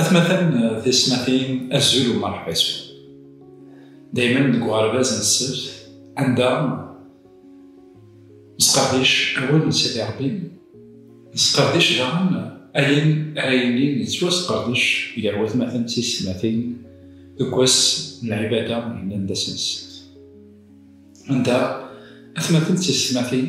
Atmaten tismatin azul u merḥba yeswen. Daymen deg uɣerbaz n ssebt anda nesqerdic awal n Sidi Rebbi, nesqerdic daɣen ayen ara yilin yettwasqerdec gar watmaten d tismatin deg wass n lɛibada yellan d ass n ssebt. Anda atmaten d tismatin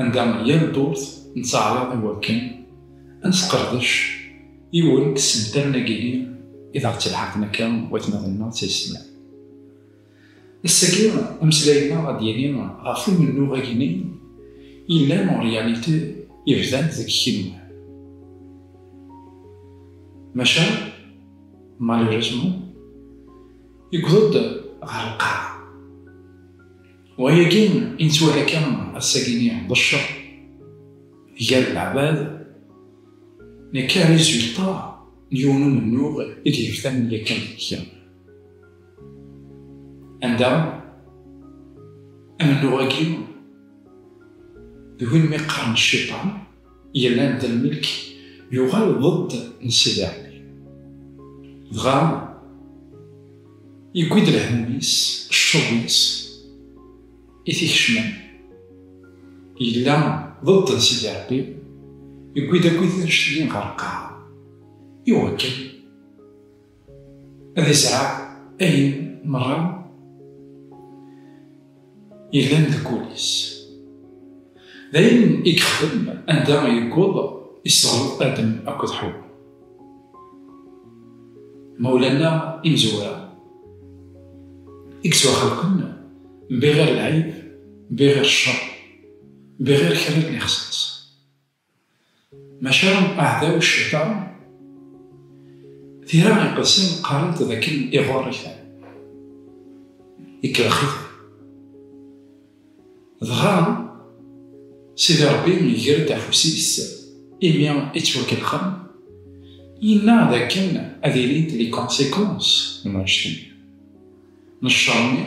anda yal ddurt nettaɛraḍ iwakken ad nesqerdec yiwen n tsental-nagini i d aɣ-ttelḥaqen akka watmaten-nneɣ d taysetma. Ass-agi, ameslay-nneɣ ad d-yini ɣef umennuɣ-agini yellan en réalité yebdan-d deg kenwi. Maca, malheureusement, yewweḍ-d ɣer lqaɛa. Wayagi i nettwali akka ass-agi-nni d cceṛ gar leɛbad, nekka rizulṭa n yiwen umennuɣ i d-yefkan yakan kra. Anda? Amennuɣ-agi d win mi qqaren cciṭan, Yerna Dda Lmelk yuɣal ḍed n Sidi Ɛli. Dɣa yewwi-d lehmum-is, ccuḍ-is, i t-ikecmen. Yella ḍed n Sidi Ɛli, yewwi-d akkit annect-nni ɣer lqaɛa. Iwakken. ad izreɛ ayen meṛṛa yellan deg wul-is. D ayen i yexdem anda yewweḍ isseɣleḍ Adem akked Ḥewwa. Mawlan-a imezwura i yettwaxelqen bbiɣir lɛib, bbiɣir cceṛ, bbiɣir kra n lixṣaṣ. Maca aɛdaw ccayṭan, tira iqedsen qqarent d akken iɣurr-iten, ikellex-iten. Dɣa Sidi Ṛebbi iger-d afus-is imi i ttwakellxen, yenna d akken ad ilint les conséquences n wannect-nni, n cceṛ-nni,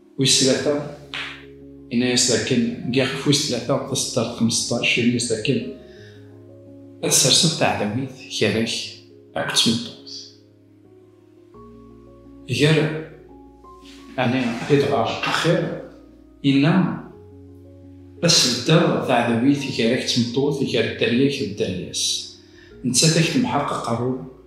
Wis tlata, yenna-yas dakken deg ɣef wis tlata taseddart xmesṭac, yenna-yas dakken ad serseḍ taɛdawit gar-ak akked tmeṭṭut. Gar ɛni ad idɣer axir, yenna ad sbeddeɣ taɛdawit gar-ak d tmeṭṭut, gar dderya-k d dderya-s, nettat ad ak-temḥeq aqerru.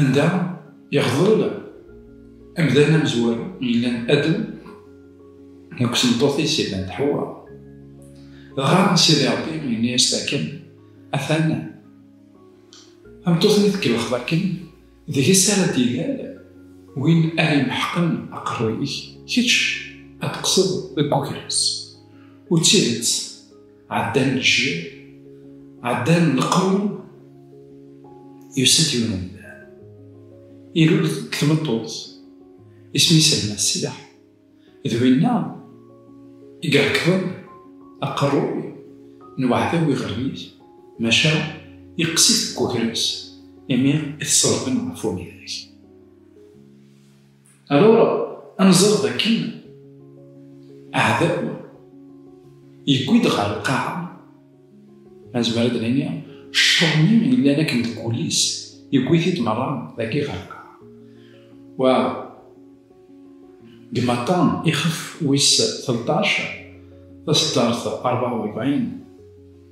Anda ixḍel amdan amezwaru yellan Adem akked tmeṭṭut-is yellant Ḥewwa. Dɣa Sidi Ṛebbi yenna-yas-d akken, Atan, tameṭṭut-nni tkellxeḍ akken, deg-s ara d-ilal win ara imeḥqen aqerruy-ik, kečč ad teqqseḍ deg uger-is. U d tidet, Ɛeddan lǧil, ɛeddan leqrun, yusa-d yiwen umdan. Ilul deg tmeṭṭut, isem-is Almas Sidaḥ. D winna i irekḍen aqerruy n uɛdaw iɣerrib, maca yeqqes-it deg wegris imi i t-ṣellben ɣef umidag. Alors, anẓer dakken aɛdaw yewwi-d ɣer lqaɛa azmer ad nini cceṛni yellan akken deg wul-is yewwi-t-id merra dagi ɣer lqaɛa wa deg maṭan ixef wis 13 taseddart 44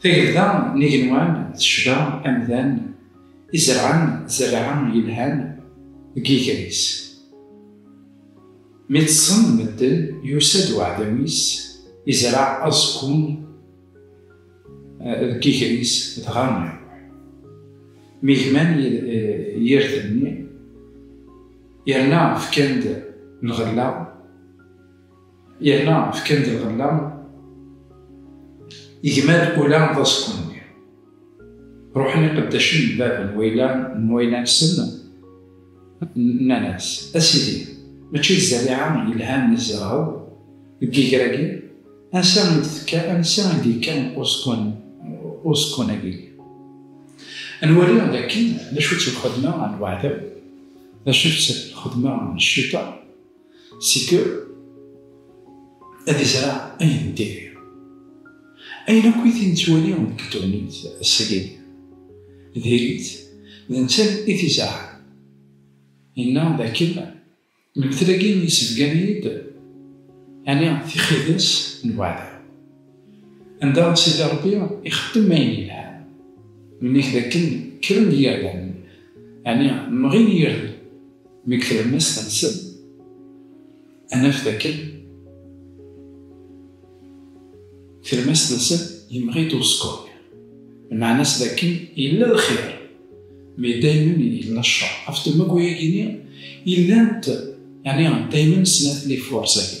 Tagelda n igenwan tecba amdan izerɛen zerɛa yelhan deg yiger-is. Mi ṭṭsen medden, yusa-d uɛdaw-is, izreɛ aẓekkun deg yiger-is, dɣa iruḥ. Mi gman yirden-nni, yerna fkan-d lɣella. Yerna fkan-d lɣella i gma d ula d aẓekku-nni. Ruḥen iqeddacen n bab n wayla n wayla-nsen, nnan-as, A sidi, mačči d zzariɛa yelhan i tzerɛeḍ deg yiger-agi? Ansa i d-tekka, ansa i d-yekka uẓekkun-agi? Ad nwali d akken d acu-tt lxedma n weɛdaw, d acu-tt lxedma n ccita. c'est que ad izreɛ ayen n diri ayen akk i t-nettwali deg tegnit ass-agi diri-t d netta i t-izerɛen yenna dakken lmetel-agi yessebgan-iyi-d ɛni tixidas n weɛdaw Anda Sidi Ṛebbi ixeddem ayen yelhan, nnig dakken kkren yirden, ɛni mɣin yirden deg tlemmast-nsen, ad naf dakken tlemmast-nsen yemɣi-d uẓekkuṛ-nni. Lmeɛna-s dakken yella lxir, mi daymen yella cceṛ. Ɣef temmug-agi-nni i llant, ɛni daymen snat n yifursa-agi.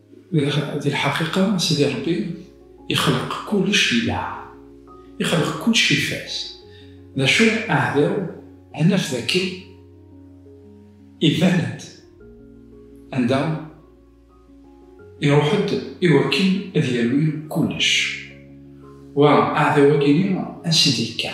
Di lḥaqiqa, Sidi Ṛebbi ixleq kullec di lɛa, ixleq kullec ifaz. D acu aɛdaw ad naf d akken iban-d anda iruḥ-d i wakken ad yawi kullec. Wa aɛdaw-agi-nni a Sidi yekka.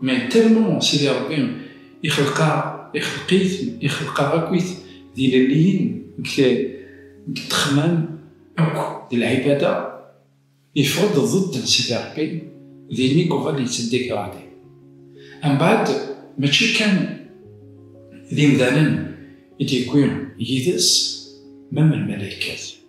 Mais tellement Sidi Rebbi ixelq-aɣ, ixelq-iten, ixelq-aɣ akkit d ilelliyen deg ddexxmam akk d lɛibada, yeffeɣ-d ḍedd n Sidi Rebbi, din i yuɣal yettdegradé. Mbeɛd mačči kan d imdanen i d-yewwi yid-s, même lmalaykat.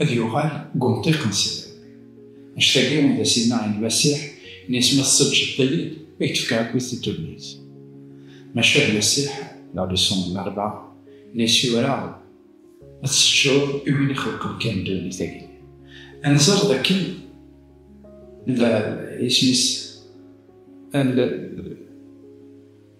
Ad yuɣal deg umṭiq n sser. Anect-agi d asigna i Lmasiḥ n yis ma tesseǧhed-iyi-d i k-d-fkeɣ akkit di ddunit. Maca Lmasiḥ, la leçon n rebɛa, n yis yura-ɣ-d ad tseǧhed i win ixelqen kan ddunit-agi. Ad nẓer d akken la isem-is ad.